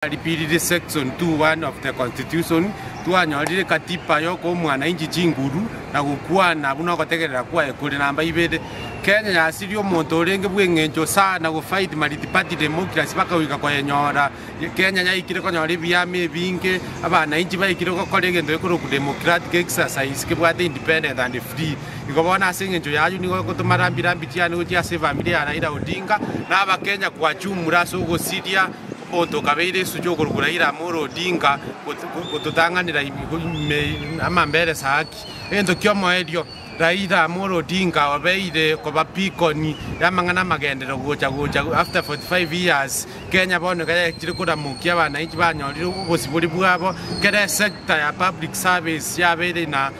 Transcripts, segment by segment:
Twaripiirire section two one of the Constitution, twanyorire Katiba ya okoa omwanainchi chinguru na gokwana buna ogotegerera kwaye kore namba ibere. Kenya yasirie omonto orenge bw'eng'encho saa na gofight multiparty democracy bakagoika koyenyora. Kenya yaikire konyora ebiama ebinge, abanainchi baikire gokora egento gekorokwa democratic exercise kebwate independent and free. Igo bono ase eng'encho y'ayio nigo egotoma rambi rambi chiane gochia ase efamiri ya Raila Odinga na Abakenya kwachumura ase ogosiria Omonto okabeire esugi okorokwa Raila Amolo Odinga gototang'anera ime amambere saa ki? Egento ki'omoerio, Raila Amolo Odinga obeire koba beacon y'amang'ana amagenderero gocha gocha after 45 years Kenya bono iga yachire koramokia abanainchi banyorire obosibori bwabo kera esector ya public service yabeire na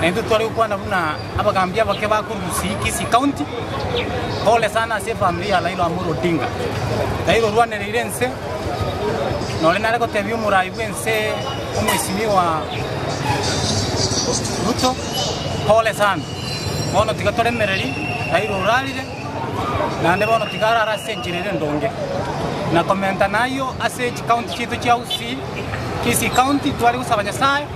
na intwe tware gokwana buna abagaambi abake ba korwa Gusii, Kisii County. Pole sana ase efamiri ya Raila Amolo Odinga. Raila orwanereire ense, nore nare gotebia omorai bw'ense omwesimiwa Ruto, pole sana. Bono tiga toremereri, Raila orarire, naende bono tiga arare ase enchera ere endonge. Na komenta nayio ase chikaunti chiaito chia Gusii, Kisii County, tware gosaba Nyasaye,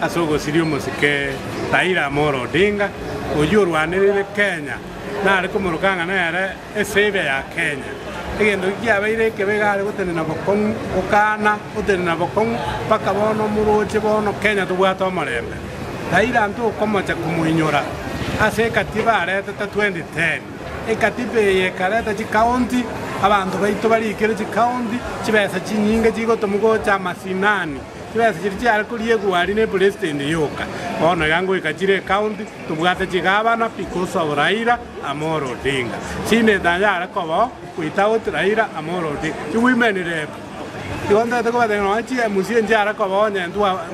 Ase ogosiria omosike Raila Amolo Odinga, oyio orwanerire Kenya, nare komoroka ng'a nere esavior ya Kenya. Egento ki kiabeire ekebe iga are gotenena bokong'u, gokaana gotenena bokong'u mpaka bono moroche bono Kenya tobwate omorembe. Raila ntokomocha komoinyora ase ekatiba aretete 2010. Ekatiba eye ekareta chikaunti, abanto baito barikire chikaunti, chibesa chinyinge chigotomu gocha amasinani Chibesa chiria chiare koriegwa aria ne president yoka bono ya ngoika chire ecounty tobwate chigabana because of Raila Amolo Odinga senator yare kobao without Raila Amolo Odinga ti women rep igo ntaete kobatebia nonya chi mca nchiare kobao onye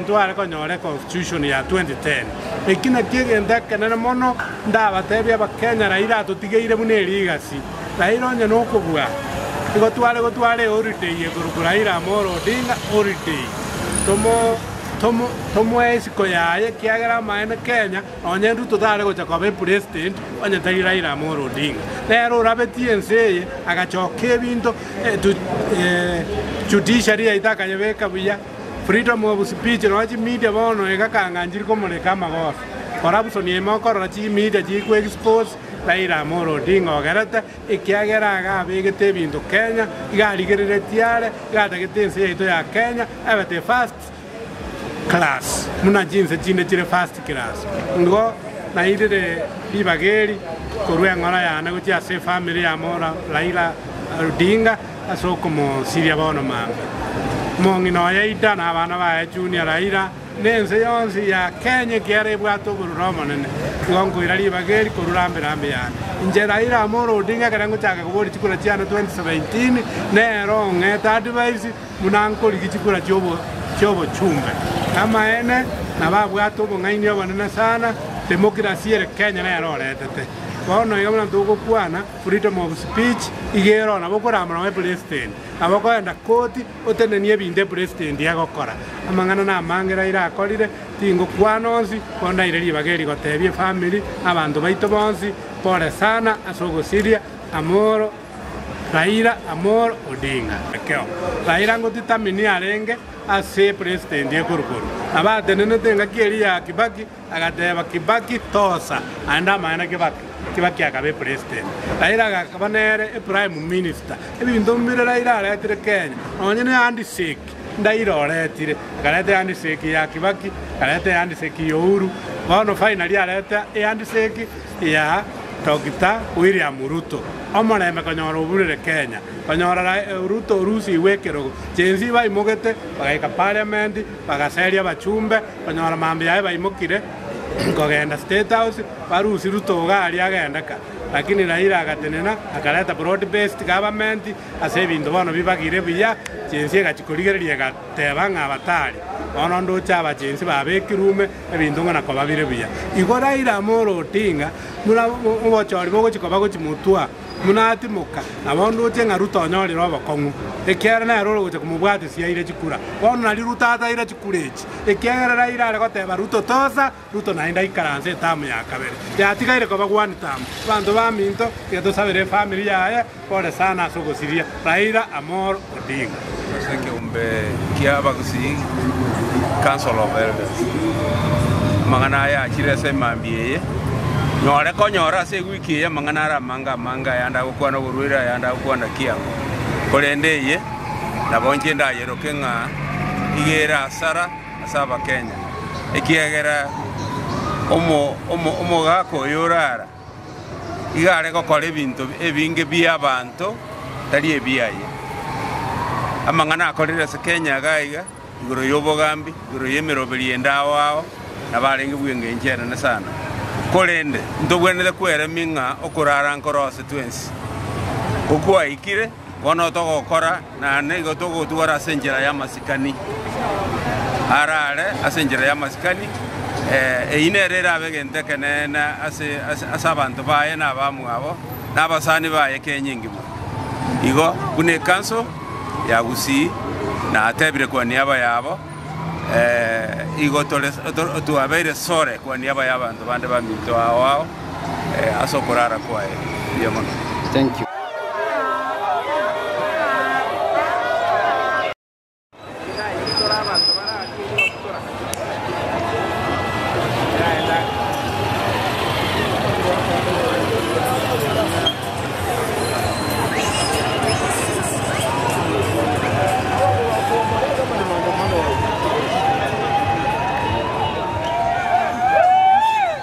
ntware konyora econstitution ya 2010 eki nakio egento ekenene mono ndabatebia abakenya Raila atotigeire buna erigasi. Raila onye nokobua. Igo tware gotwara eholiday eye group Raila Amolo Odinga holiday. Tomoe isiko yaye ekiagera amaene Kenya nonye Ruto tare gocha koba epresident onye tari Raila Amolo Odinga. Nere orabetie ense eye agachoka ebinto judiciary yaito akayebeka buya, freedom of speech nonye chimedia bono iga kang'anchiri komoreka amagoso. Corruption ime okorora chimedia chiri ko expose. Raila Amolo Odinga ogerete, ekiagera iga abegete ebinto Kenya, iga arigereretie are, iga atagete ense yaito ya Kenya ebete first class buna chinse chinde chire first class. Nigo nairire ribaga eri korwa eng'ora yane gochia ase efamiri ya Amolo Raila Odinga ase okomosiria bono mambia. Omong'ina oye Ida na abana baye Junior Raila. na ense yonsi ya Kenya ekiara ebwate oborure omonene, igo nkoira ribaga eri korwa rambe rambe yane. Inche Raila Amolo Odinga ekero ngochaka koboria chikura chiane 2017, nero ong'ete advice buna nkorigia chikura chiobochumbe. Amaene nabo abwate obong'aini obonene sana, democracy ere Kenya nere oretete. Bono iga buna togokwana freedom of speech, iga ero nabo okoramora nobe president, nabo okoenda koti. Otenenie ebinto epresidenti egokora. Amang'ana na amaange Raila akorire tingokwana onsi, bono ndaire ribaga eri gotebia efamiri na abanto baito bonsi pole sana ase ogosiria Amolo Raila Amolo Odinga. Ekero Raila ngotitamini arenge ase epresidenti ekoru-koru, nabo atenenete engaki eria ya Kibaki. Agateba Kibaki tosa aende amang'ana Kibaki. Kibaki akaba epresident Raila agakaba nere eprime minister ebinto mbire Raila aretire Kenya nonye ne handshake ndaira oretire akareta ehandshake ya Kibaki akareta ehandshake ya Uhuru bono finally areta ehandshake ya Doctor William Ruto omorembe konyora oburire Kenya konyora Ruto orusigwe ekerogo Gen-z baimogete bagaika parliament Bagaseria abachumbe konyora mambia aye baimokire kogenda State House barusie Ruto iga aria agendeka lakini Raila agatenena akareta broad based government ase ebinto bono bibagire buya chinsi egachi korigereria egateba ng'a batari bono ndoche aba chinsi babekirwe ume ebinto ng'a nakobabire buya igo Raila Amolo Odinga buna obochori bogochi koba gochi motwa Buna atimoka, nabaondoche ng'a Ruta onyorire obokong'u, ekiagera nere ore gocha komobwata ase aire chikura. Bono nario Ruta ataire chikura echi, ekiagera raira are goteba Ruto tosa, Ruto naende aikaranse etamu ya kabere. Yatigaire koba gwani tamu. Abanto baminto, tiga tosabere efamiri yaye, pole sana ase ogosiria. Raira Amolo. Odinga, ase ekeombe kia abagusii, Council of Elders. Amang'ana aya achire ase emambia eye, Nyore konyora ase ewiki eye amang'ana are amange amange ayande agokwana oborwaire, ayande agokwana kiang'u, korende eye nabo inche ndayeroke ng'a nigo ere hasara ase Abakenya, ekiagera omo, omo, omogaka oyo ore ara Iga are gokora ebinto ebinge bia abanto tari ebiaye. Amang'ana akorire ase Kenya iga iga igoro yobogambi, igoro yemeroberi yende ao ao nabo arenge bw'engencho enene sana. Korende ntobwenerete kweremia ng'a okorara nkoroose twensi, ko kwaikire. Bono togokora, na nigo togotwora ase enchera y'amasikani araare ase enchera y'amasikani. Eyio nero erabe egento ekeneene ase abanto baye na abamwabo, na abasani baye kenyingi mono. Igo buna ekanso ya Gusii natebire kwaniaba yabo, igo tore twabeire sore kwaniaba y'abanto bande baminto ao ao. ase okorara kwaye. Mbuya mono.